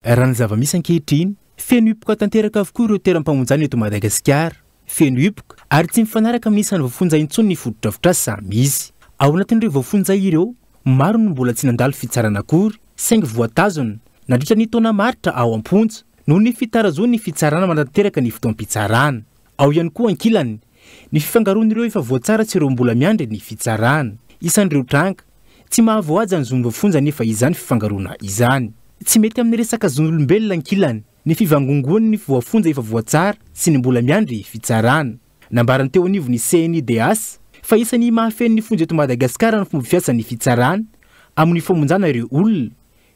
Raha ny zava-misy ankehitriny, feno hipoka tanteraka avokoa ireo toeram-pamonjana eto Madagasikara. Feno hipoka ary tsy mifanaraka amin'ny isan'ny voafonja intsony ny fotodrafitrasa samy misy. Ao anatin'ireo voafonja ireo, maro no mbola tsy nandalo fitsarana akory saingy voatazona nandritra ny taona maritra ao am-ponja noho ny fitarazoan'ny fitsarana manatanteraka ny fotoam-pitsarana. Ao ihany koa ankilany, Ny fifangaroan'ireo efa voatsara sy ireo mbola miandry ny fitsarana. Isan'ireo tranga. Tsy mahavoahaja ny zon'ny voafonja anefa izany fifangaroana izany. Tsy mety amin'ny resaka zon'olombelona ankilany ny fivangongoan'ny voafonja efa voatsara sy ny mbola miandry fitsarana. Nambaran'ny teo anivon'ny CNIDH fa isan'ny mahafehy ny fonja eto Madagasikara ny fomba fiasan'ny fitsarana amin'ny famonjana ireo olona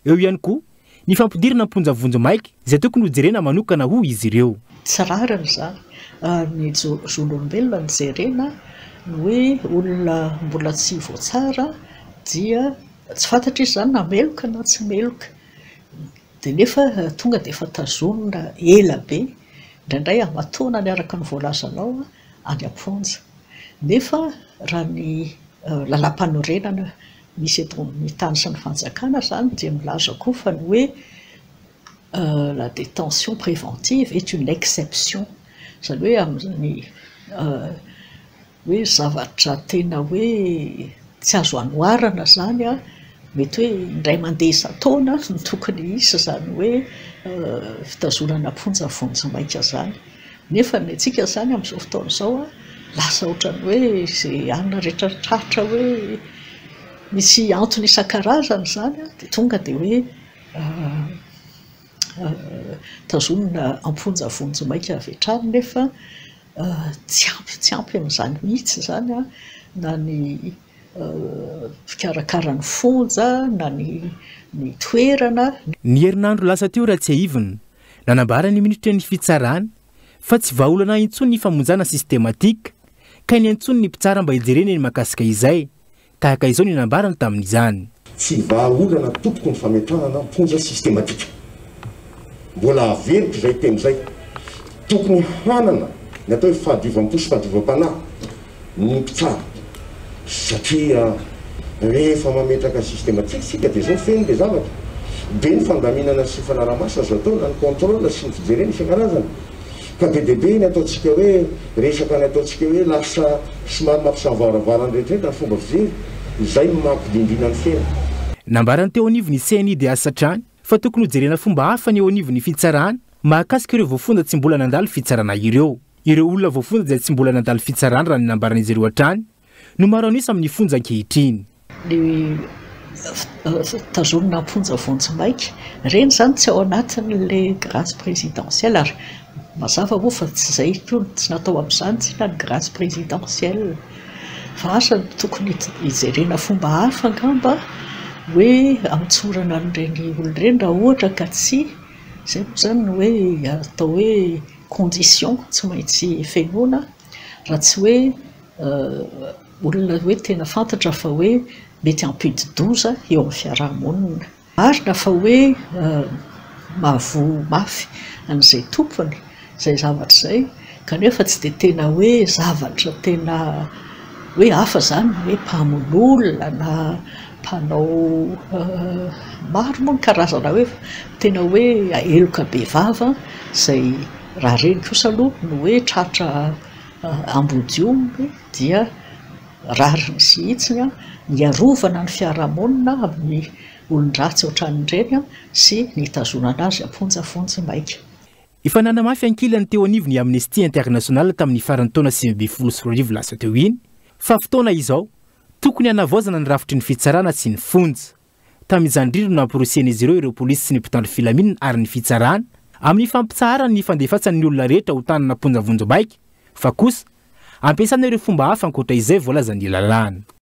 Eo ihany koa ny fampidirana am-ponja vonjimaika izay tokony ho jerena manokana hoy izy ireo. Tsy rariny izany ary ny zon'olombelona no jerena, ny hoe olona mbola tsy voatsara dia tsy fantatra izy izany na meloka na tsy meloka dia nefa tonga dia efa tazonina ela be, indraindray aman-taonany araka ny voalazanao any am-ponja. Nefa raha ny Lalàmpanorenana misy eto amin'ny tany sy ny fanjakana izany dia milaza koa fa ny hoe la détention préventive est une exception, izany hoe amin'ny hoe zavatra tena hoe tsy azo anoharana izany mety hoe indray mandeha isan-taona no tokony hisy izany hoe fitazonana am-ponja vonjimaika izany. Nefa ny antsika izany amin'izao fotoana izao lasa ohatran'ny hoe izay alina rehetra tratra hoe misy antony isan-karazany izany dia tonga dia hoe tazomina am-ponja vonjimaika avy hatrany nefa tsy ampy tsy ampy an'izany mihitsy izany na ny mpikarakara ny fonja na ny toerana. Ny herinandro lasa teo raha tsiahivina Nanambara ny minitrin'ny fitsarana fa tsy vahaolana intsony ny famonjana sistematika, ka ny antsoin'ny mpitsara mba hijerena ny mahakasika izay, tahaka izao ny nambarany tamin'izany. Tsy vahaolana tompoko ny fametrahana am-ponja sistematika. Mbola averiko izay teny izay. Tokony hanana ny atao hoe fahadiovam-po sy fahadiovam-panahy ny mpitsabo satria rehefa mametraka système tsy isika dia zao feno le zavatra be ny fandaminana sy fanarahamaso azo atao na ny contrôle sy ny fijerena isan-karazany ka be dia be ny ataontsika hoe resaka ny ataontsika hoe lasa somary mampisavaravara ny rehetra rehetra ny fomba fijery izay no maha mpidindrina ny feno. Nambarany teo anivon'ny CNIDH hatrany fa tokony hojerena fomba hafa ny eo anivon'ny fitsarana mahakasika ireo voafonja tsy mbola nandalo fitsarana ireo. Ireo olona voafonja izay tsy mbola nandalo fitsarana raha ny nambaran'izy ireo hatrany no maro an'isa amin'ny fonja ankehitriny. Ny tazonina am-ponja vonjy maika, ireny izany tsy ao anatin'ilay grâce présidentielle ary mazava moa fa tsy izay intsony, tsy natao amin'izany tsinona ny grâce présidentielle fa asa no tokony hijerena fomba hafa angamba hoe hamotsorana an'ireny olona ireny raha ohatra ka tsy izay moa izany no hoe atao hoe conditions tsy maintsy fenoina raha tsy hoe olona hoe tena fantatra fa hoe mety hampidi-doza eo amin'ny fiaraha-monina. Marina fa hoe mahavoa mafy an'izay tompony izay zavatra izay kanefa tsy dia tena hoe zavatra tena hoe hafa izany ny hoe mpamono olona na Mpanao maro moa ny karazana hoe tena hoe heloka be vava izay raha ireny kosa aloha no hoe tratra ambodiomby dia rariny sy hitsiny ny hiarovana ny fiarahamonina amin'ny olon-dratsy ohatran'ireny sy ny hitazonana azy am-ponja vonjimaika. Efa nanamafy ankilany teo anivon'ny Amnesty International tamin'ny faran'ny taona sivy ambin'ny folo sy roa arivo lasa teo iny fa fotoana izao Tokony hanavaozana ny rafitry ny fitsarana sy ny fonja. Tamin'izany indrindra no nampirosihan'izy ireo ireo polisy sy ny mpitandro filaminana ary ny fitsarana, amin'ny fampitsaharany ny fandefasan' ny olona rehetra ho tanana am-ponja vonjimaika, fa kosa ampiasana ireo fomba hafa ankoatra izay voalazan'ny lalàna.